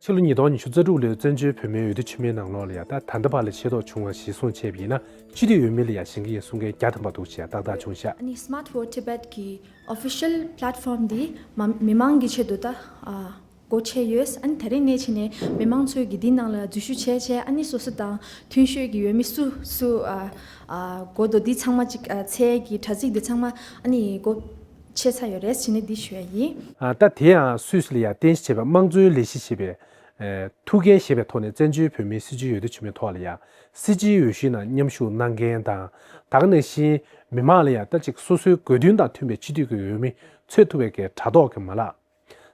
ཕྱི་ལོ་ཉིས་སྟོང་ཉི་ཤུ་རྩ་དྲུག་ལོའི་བཙན་བྱོལ་བོད་མིའི་འོས་བསྡུ་ཕྱི་མའི་ནང་ལོགས་ལ་ཡང་ད་ད་འདི་བར་ལ་ཤེས་རྟོགས་བྱུང་བ་ཞིག་གསུངས་ཆེད་ཡིན་ན་སྤྱི་འཐུས་འོས་མི་ལ་ཡང་ཞེན་གྱི་ཡིན་གསུང་མཁན་བརྒྱ་ཐམ་པ་འདུག་ཞེས་ཏག་ཏག་ཆུང་ཤག། ནི Smart Vote Tibet གི Official Platform དེ་མི་མང་གི་ཆེད་དུ་ད་སྒོ་ཕྱེ་ཡོད། ཨ་ནི་ད་རེས་གནས་ཕྱི་ནས་མི་མང་ཚོས་གི་དེའི་ནང་ལ་འཛུལ་ཞུགས་བྱས་བྱས་ཨ་ནི་སོ་སོ་དང་མཐུན་ཤོས་གི་འོས་མི་སུ་སུ་གོ་དོ་དེ་ཚང་མ་ཅིག་ཚེ་གི་དྲ་ཚིགས་དེ་ཚང་མ་ཨ་ནི་གོ། ཆེ་ས་ཡོད་རེད་ཟེར་ནི་འདི་ཞུ་ཡ་ཡིན། ད་དེ་ཡང་སུད་སི་ལ་ཡར་བརྟེན་བྱས་པའི་དམངས་གཙོའི་ལས་གཞི་ཞེས་པའི། ཐུགས་འགན་བཞེས་པའི་ཐོག་ནས་བཙན་བྱོལ་བོད་མིའི་སྲིད་བྱུས་ཡོད་དོ་ཅི་མེད་ཐོག་ལ་ཡང་སྲིད་སྤྱིའི་འོས་གཞི་ནང་མཉམ་ཞུགས་གནང་མཁན་དང་དག་ནས་བཞིན་མི་མང་ལ་ཡང་ལྟ་ཅིག་སོ་སོའི་དགོས་འདུན་དང་མཐུན་པའི་སྤྱི་འཐུས་ཀྱི་འོས་མི་འཚོལ་ཐུབ་པའི་གའི་དྲ་ཐོག་གི་མ་ལག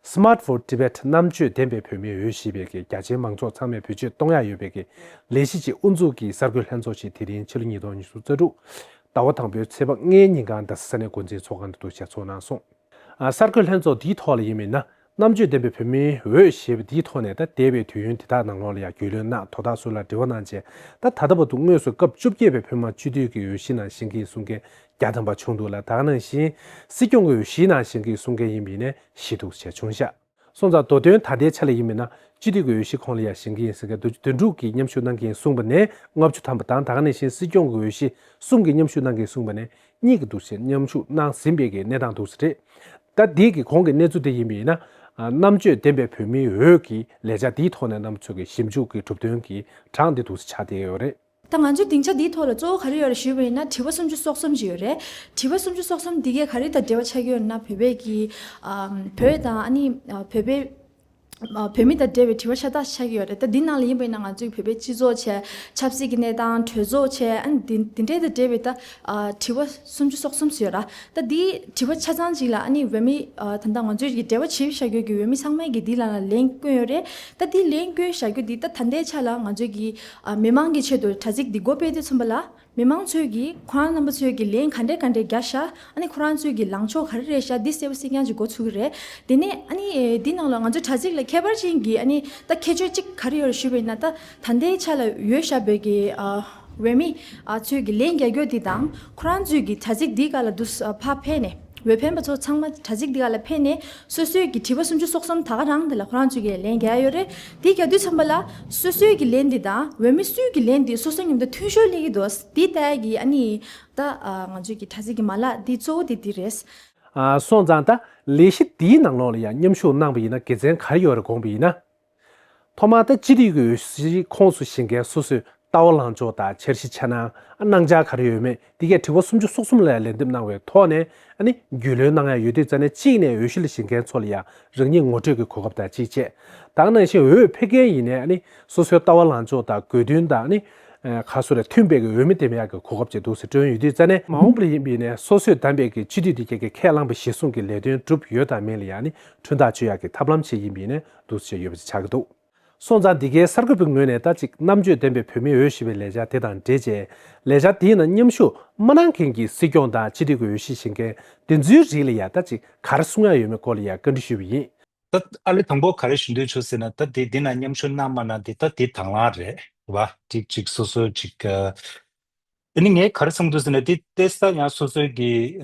Smart for Tibet རྣམ་དཔྱོད་ལྡན་པའི་བོད་མིའི་འོས་གཞི་བེད་སྐྱེལ་རྒྱ་ཆེའི་མང་ཚོགས་ཚང་མས་བེད་སྤྱོད་གཏོང་ཡ་ཡོད་བེད་སྐྱེལ་ལས་གཞི་ཆེད་དབུ་འཛུགས་ཀྱི་གསར་འགོད་ལྷན་ཚོགས་ཤིག་དེ་རིང་ཕྱི་ལོ་ཉིས་སྟོང་ཉི་ཤུ་རྩ་དྲུག་ཟླ་བ་དང་པོའི་ཚེས་པ་ལྔའི་ཉིན་གངས་རྡ་ས་ས་གནས་འགོ་འཛིན་ཚོགས་ཁང་དུ་གཙོ་ཆེར་ཚོགས་གནང་སོང། གསར་འགོད་ལྷན་ཚོགས་འདིའི་ཐོག་ལ་ཡིན་མིན་ན་རྣམ་དཔྱོད་ལྡན་པའི་བོད་མིའི་འོས་གཞི་བ་འདིའི་ཐོག་ནས་ད་ལྟའི་བའི་དུས་ཡུན་དེ་དག་ནང་ལོགས་ལ་ཡང་རྒྱུས་ལོན་གནང་དོ་དག་སུ་ལ་འདྲི་བ་གནང་རྗེས་ད་ད་ལྟ་བ་དུ་དངོས་སུ་སྐབས་བཅུ་བརྒྱད་པའི་བོད་མང་སྤྱི་འཐུས་ཀྱི་འོས་གཞི་ནང་བཞེངས་ཀྱིན་གསུང་མཁན་བརྒྱ་ཐམ་པ་བྱུང་འདུག་ལ་དྭགས་ནང་བཞིན་སྲིད་སྐྱོང་གི་འོས་གཞིའི་ནང་བཞེངས་སྐད་གསུང་མཁན་ཡིན་པའི་ཡིན་ནས་ཞེས་གཏུགས་བྱས་བྱུང་ཤག་སོང་ཙང་དོ་དོན་ད་ལྟའི་ཆ་ལ་ཡིན་མིན་ན་སྤྱི་འཐུས་ཀྱི་འོས་གཞི་ཁོང་ལ་ཡང་བཞེངས་ཀྱི་ཡིན་ཟེར་མཁན་དུ་དོན་དྲུག་གིས་མཉམ་ཞུགས་གནང་གི་ཡིན་གསུངས་པ་ནས་ལྔ་བཅུ་ཐམ་པ་དང་དྭགས་ནང་བཞིན་སྲིད་སྐྱོང་གི་འོས་གཞི་གསུམ་གིས་མཉམ་ཞུགས་གནང་གི་ཡིན་གསུངས་པ་ནས་གཉིས་ཀྱི་འདུག་ཟེར་མཉམ་ཞུགས་གནང་ཟིན་པའི་གི་གནས་སྟངས་འདུག་ཟེར། ད་འདི་གི་གོང་གི་གནས་ཚུལ་དེ་ཡིན་པའི་ཡིན་ན་རྣམ་དཔྱོད་ལྡན་པའི་བོད་མིའི་འོས་ཀྱི་ལས་བྱ་འདིའི་ཐོག་ནས་རྣམ་ཚོས་ཀྱི་ཞིབ་འཇུག་གི་གྲུབ་དོན་གྱི་གྲངས་འདི་འདུག་ཟེར་ཆགས་བསྡད་ཡོད་རེད། ད་ང་ཚོས་སྡིངས་ཆ་འདིའི་ཐོག་ལ་གཙོ་བོ་ག་རེ་ཡོད་རེ་ཞུས་པ་ཡིན་ན་དྲི་བ་སུམ་ཅུ་སོ་གསུམ་ཅིག་ཡོད་རེད། དྲི་བ་སུམ་ཅུ་སོ་གསུམ་འདི་གས་ག་རེ་དང་འབྲེལ་བ་ཆགས་ཀྱི་ཡོད་ན་བོད་པས་ཀྱི། བོད་དང་ཨ་ནི་བོད་པའི། བོད་མི་དང་འབྲེལ་བའི་དྲི་བ་ཤ་སྟག་ཆགས་ཀྱི་ཡོད་རེད་ད་འདི་ནང་ལ་ཡིན་པ་ཡིན་ན་ང་ཚོའི་བོད་པའི་སྤྱི་ཚོགས་ཆེད་ཆབ་སྲིད་ཀྱི་གནས་སྟངས་གྲོས་ཚོགས་ཆེད་ཨ་ནི་འདི་འདྲའི་དང་འབྲེལ་བའི་ད་དྲི་བ་སུམ་ཅུ་སོ་གསུམ་ཟེར་ཡོད་ར་ད་འདི་དྲི་བ་ཆ་ཚང་ཅིག་ལ་ཨ་ནི་བོད་མི་ད་ད་ང་ཚོའི་ཀྱི་འབྲེལ་བ་བྱེད་བཞག་ཡོད་ཀྱི་བོད་མི་ཚང་མས་ཀྱི་འདི་ལ་ལན་བསྐོན་ཡོད་རེད་ད་འདི་ལན་བསྐོན་བཞག་རྒྱུ་འདི་ད་ད་ལྟའི་ཆ་ལ་ང་ཚོའི་ཀྱི་མི་མང་གི་ཆེད་དུ་དྲ་ཚིགས་འདི་མགོ་སྤེལ་ཏེ་མཚོན་པ་ལ། མི་མང་ཚོས་ཀྱིས་ཁོ་རང་རྣམ་པ་ཚོས་ཀྱིས་ལན་ག་འདྲས་ག་འདྲས་རྒྱག་ཤ་ཨ་ནི་ཁོ་རང་ཚོས་ཀྱིས་ལངས་ཕྱོགས་ག་རེ་རེ་ཤ་འདི་གསལ་བོ་གསལ་རྐྱང་ཅིག་འགོ་ཚུགས་ཀྱི་རེད། དེ་ནས་ཨ་ནི་འདི་ནང་ལ་ང་ཚོའི་དྲ་ཚིགས་ལ་ཁྱད་པར་ཅན་གྱི་ཨ་ནི་ད་ཁྱད་ཆོས་ཅིག་ག་རེ་ཡོད་རེ་ཞུས་པ་ཡིན་ན་ད་ད་ལྟའི་ཆ་ལ་ཡོད་ཤ་བོད་ཀྱི་འོས་མི་ཚོས་ཀྱིས་ལན་རྒྱག་རྒྱུ་དེ་དང་ཁོ་རང་ཚོས་ཀྱིས་དྲ་ཚིགས་འདི་ག་ལ་འདུག་ཕ་ཕེ་ནས། བའི་ཕན་པ་ཚོ་ཚང་མ་དྲ་ཚིགས་འདི་ག་ལ་ཕེབས་ནས་སོ་སོས་ཀྱི་དྲི་བ་སུམ་ཅུ་སོ་གསུམ་ད་ག་རང་དེ་ལ་ཁོ་རང་ཚོས་ཀྱི་ལན་རྒྱག་ཡོད་རེད་དེ་རྒྱག་དུས་ཚང་མ་ལ་སོ་སོས་ཀྱི་ལན་འདི་དང་འོས་མི་སུས་ཀྱི་ལན་འདི་སོ་སོ་ཉམས་ད་ཐུན་ཤོར་སླེ་གི་འདུག་དེ་ལྟ་གི་ཨ་ནི་ད་ང་ཚོས་ཀྱི་དྲ་ཚིགས་ཀྱི་མ་ལག་འདི་གཙོ་བོ་དེ་འདི་རེད། སོང་ཙང་ད་ལས་གཞི་འདིའི་ནང་ལོགས་ལ་ཡང་མཉམ་ཞུགས་གནང་བ་ཡིན་ན་དགེ་མཚན་ག་རེ་ཡོད་རེད་དགོངས་པ་ཡིན་ན། ཐོག་མར་ད་ཅི་རིགས་ཀྱི་འོས་གཞིའི་ཁོངས་སུ་ཞིག་མཁན་སོ་སོས་ལྟ་བ་ལངས་ཕྱོགས་དང་འཆར་གཞི་འཆར་སྣང་གནང་འཆར་ག་རེ་ཡོད་མེད་འདི་གའི་དྲི་བ་སུམ་ཅུ་སོ་གསུམ་ལ་ལན་འདེབས་གནང་བའི་ཐོག་ནས་རྒྱུས་ལོན་གནང་ཡ་ཡོད་དུས་རྩ་ནས་གཅིག་ནས་འོས་གཞི་ལ་ཞིག་མཁན་ཚོ་ལ་ཡང་རང་ཉིད་ངོ་སྤྲོད་ཀྱི་གོ་སྐབས་དང་གཅིག་ཆེད་བདག་གནང་ཞིང་འོས་འཕེར་མཁན་ཡིན་ནས་སོ་སོའི་ལྟ་བ་ལངས་ཕྱོགས་དང་དགོས་འདུན་དང་ག་སོ་ལ་མཐུན་པའི་འོས་མི་འདེམས་ཡ་གི་གོ་སྐབས་ཅིག་འདུག་ཟེར་དྲོན་ཡོད་དུས་རྩ་ནས་མ་འོངས་པར་ཡིན་པས་ནས་སོ་སོས་བདམས་པའི་གི་སྤྱི་འཐུས་དེ་ག་གིས་ཁས་བླངས་པའི་གཞི་སྲུང་གི་ལས་དོན་བསྒྲུབས་ཡོད་དམ་མེད་ལ་ཡང་ཁྲུན་ཐག་གཅོད་ཡ་གི་ཐབས་ལམ་ཞིག་ཡིན་པས་ནས་འདུ་བྱེད་ཡོད་པ་ཅིག་ཆགས་ཀྱི་འདུག་སོང་ཙང་འདི་གའི་གསར་འགོད་པའི་ངོས་ནས་ད་ཅིག་རྣམ་དཔྱོད་ལྡན་པའི་བོད་མིའི་འོས་གཞི་བའི་ལས་འཆར་དེ་དང་འབྲེལ་རྗེས་ལས་འཆར་དེའི་ནང་མཉམ་ཞུགས་མ་གནང་མཁན་གྱི་སྲིད་སྐྱོང་དང་སྤྱི་འཐུས་ཀྱི་འོས་གཞི་བཞེས་མཁན་དེ་ཚོའི་རིགས་ལ་ཡང་ད་ཅིག་ག་རེ་གསུང་ཡག་ཡོད་མེད་སྐོར་ལ་ཡང་བཀའ་འདྲི་ཞུས་པ་ཡིན། ད་ཨ་ལེ་དང་པོ་ག་རེ་ཞུ་འདོད་བྱུང་ཟེར་ན་ད་དེ་འདི་ནང་མཉམ་ཞུགས་གནང་མ་གནང་དེ་ད་དེ་དང་བླང་རེད་བ། ཅིག་གཅིག་སོ་སོའི་ཅིག་ག་དེ་ནི་ངས་ག་རེ་གསུང་འདོད་ཟེར་ན་དེ་ཏེ་ས་ཡང་སོ་སོའི་གི།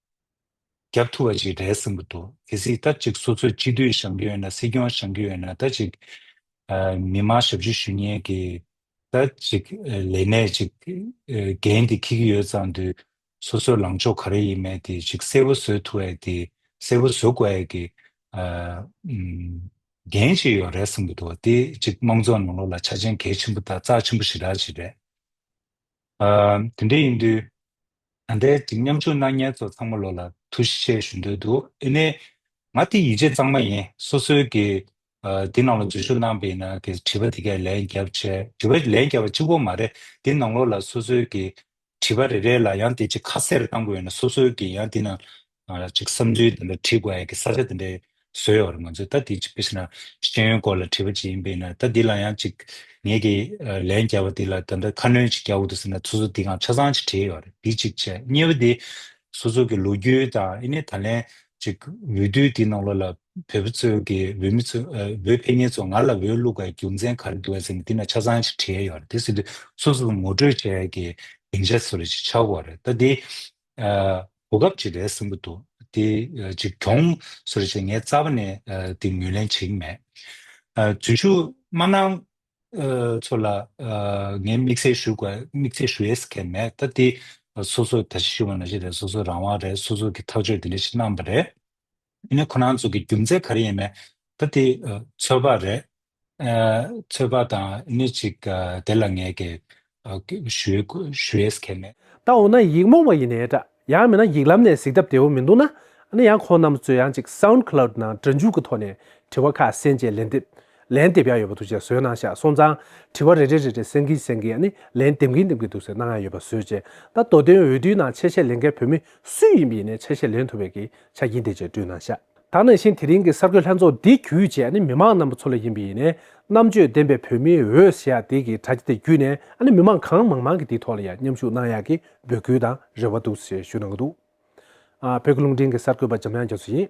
རྒྱབ་ཐུ་བ་ཞིག་རེད་བསམ་གྱི་འདུག་གལ་སྲིད་ད་ཅིག་སོ་སོས་སྤྱི་འཐུས་བཞེངས་ཀྱི་ཡོད་ན་སྲིད་སྐྱོང་བཞེངས་ཀྱི་ཡོད་ན་ད་ཅིག་མི་དམངས་ཞབས་ཞུ་ཞུ་ཉེན་གྱི་ད་ཅིག་ལས་གནས་ཅིག་འགན་དེ་འཁྱེར་གྱི་ཡོད་ཙང་དུས་སོ་སོའི་ལངས་ཕྱོགས་ག་རེ་ཡིན་མེད་དེ་ཅིག་གསལ་བོ་བཟོས་ཐུ་ཡས་དེ་གསལ་བོ་བཟོ་དགོས་ཡས་གྱི་འགན་ཅིག་ཡོད་རེད་བསམ་གྱི་འདུག་དེ་ཅིག་དམངས་གཙོ་ནང་ལོག་ལ་ཆ་ཆེན་གལ་ཆེན་པོ་དང་རྩ་ཆེན་པོ་ཞི་དྲག་ཅིག་རེད་དེ་འདྲ་ཡིན་དུས། ད་ལྟའི་འགྲིག་མཉམ་ཆུང་སྣང་བརྙན་ཚོ་ཚང་མ་ལོ་ལ་ཐུགས་བཞེས་ཞུ་འདོད་འདུག་ཨེ་ནས། ང་དེ་ཡིད་ཆེས་གཙང་མ་ཡིན་སོ་སོའི་གི། འདི་ནང་ལོ་འཛུལ་ཞུགས་གནང་པའི་ན་གི་བྲིས་པ་དེ་གས་ལན་རྒྱབ་བྱས་བྲིས་པ་ལན་རྒྱབ་པ་གཅིག་པོ་མ་རེད་འདི་ནང་ལོ་ལ་སོ་སོའི་གི། བྲིས་པ་རེ་རེ་ལ་ཡང་དེ་གཅིག་ཁ་གསལ་རེ་གཏང་དགོས་ཡོད་ན་སོ་སོའི་གི་ཡང་འདི་ནང། ང་རང་ཅིག་བསམ་ཚུལ་འདི་འདྲ་བྲིས་དགོས་ཨ་ཡེ་གི་ས་ཆ་འདི་འདྲའི་བཟོས་ཡོད་རེད་མ་ཚོད་ལྟ་འདི་ཅིག་ཕེབས་ཤི་ན་ཤེས་ཡོན་སྐོར་ལ་བྲིས་པ་ཅིག་ཡིན་པས་ན་ལྟ་འདི་ལ་ཡང་ཅིག་ངེད་ཀྱིས་ལན་རྒྱབ་པ་འདི་ལ་ད་ལྟ་ཁ་སྣོན་ཅིག་རྒྱག་འོ་དུ་ཟེར་ན་ཚུར་ཚུར་འདི་གང་ཆ་ཚང་ཅིག་བྲིས་ཡོད་རེད་འདི་ཅིག་བྱས་གཉིས་པ་འདི་སོ་སོ་གི་ལོ་རྒྱུས་དང་ཨེ་ནས་ད་ལན་ཅིག་འོས་བསྡུ་འདི་ནང་ལོགས་ལ་བོད་པ་ཚོས་ཀྱི་འོས་མི་ཚོས་འོས་འཕེན་མཁན་ཚོ་ང་ལ་འོས་བླུག་པའི་རྒྱུ་མཚན་ག་རེ་འདུག་ཨེ་ཟེར་ན་འདི་ན་ཆ་ཚང་ཅིག་བྲིས་ཡོད་རེད་དེ་ཟེར་དུས་སོ་སོ་ངོ་སྤྲོད་བྱས་ཀྱི་སྡིངས་ཆ་སོ་རེ་ཅིག་ཆགས་དགོས་རེད་ལྟ་འདི་གོ་སྐབས་ཅིག་རེག་ཟིན་པོ་འདུག་དེ་ཅིག་གྱོང་སུ་རེ་བྱས་ངས་རྩ་བ་ནས་དེ་ངོས་ལེན་བྱེད་ཀྱི་མེད། རྫུན་ཞུ་སྨྲ་ནག་ཚོ་ལ་ངས་དམིགས་བསལ་ཞུ་དགོས་དམིགས་བསལ་ཞུ་ཡས་ཁན་མེད་ད་དེ་སོ་སོ་ད་ཅི་ཞུ་བ་ན་ཅི་རེད་སོ་སོ་རང་དབང་རེད་སོ་སོ་གི་ཐག་གཅོད་དེ་འདྲ་ཞིག་གནང་བ་རེད། དེ་ནི་ཁོ་རང་ཚོ་གི་རྒྱུ་མཚན་ག་རེ་ཡིན་མེད། ད་དེ་ཚོད་དཔག་རེད། ཚོད་དཔག་དང་ནི་ཅིག་དེ་ལ་ངས་གས་ཞུས་ཀས་མེད། ད་འོ་ན་ཡིག་རྨོངས་པ་ཡིན་ནའི་འདྲ། ཡང་མིན་ན་ཡིག་ལམ་ནས་གཟིགས་ཐབས་བདེ་བོ་མི་འདུག་ན་ནི་ཡང་ཁོང་རྣམས་ཚོས་ཡང་ཅིག Sound Cloud ནང་སྒྲ་འཇུག་གི་ཐོག་ནས་དྲི་བ་ཁ་གསལ་མཇལ་ལན་འདེབས་ལན་འདེབས་ཡག་ཡོད་པ་འདུག་ཅེས་བཟོས་གནང་ཤག་སོང་ཙང་དྲི་བ་རེ་རེ་རེ་རེ་གསན་གིན་གསན་གིན་ནི་ལན་འདེབས་གིན་འདེབས་གིན་འདུག་ཟེར་གནང་ཡག་ཡོད་པ་བཟོས་རྗེས་ད་མདོ་དོན་འོས་བསྡུའི་ནང་ཆེད་བཤད་ལེན་མཁན་བོད་མི་སུ་ཡིན་པ་ཡིན་ནའི་ཆེད་བཤད་ལེན་ཐུབ་པའི་གི་ཆ་རྐྱེན་དེ་བཅས་བསྐྲུན་གནང་ཤག། ད་ནང་བཞིན་དེ་རིང་གི་གསར་འགོད་ལྷན་ཚོགས་འདི་བརྒྱུད་བཅས་མི་མང་རྣམ་པ་ཚོ་ལ་ཡིན་པའི་ཡིན་ནས་རྣམ་དཔྱོད་ལྡན་པའི་བོད་མིའི་འོས་ཞེས་ཡག་དེ་གི་དྲ་རྒྱ་དེ་བརྒྱུད་ནས་མི་མང་གང་མང་མང་གི་དེའི་ཐོག་ལ་ཡང་མཉམ་ཞུགས་གནང་ཡག་གི་འབོད་སྐུལ་དང་རེ་བ་འདུག་ཞེས་ཞུས་གནང་གི་འདུག་བོད་ཀྱི་རླུང་འཕྲིན་གི་གསར་འགོད་པ་འཇམ་དབྱངས་རྒྱ་མཚོ་ཡིན།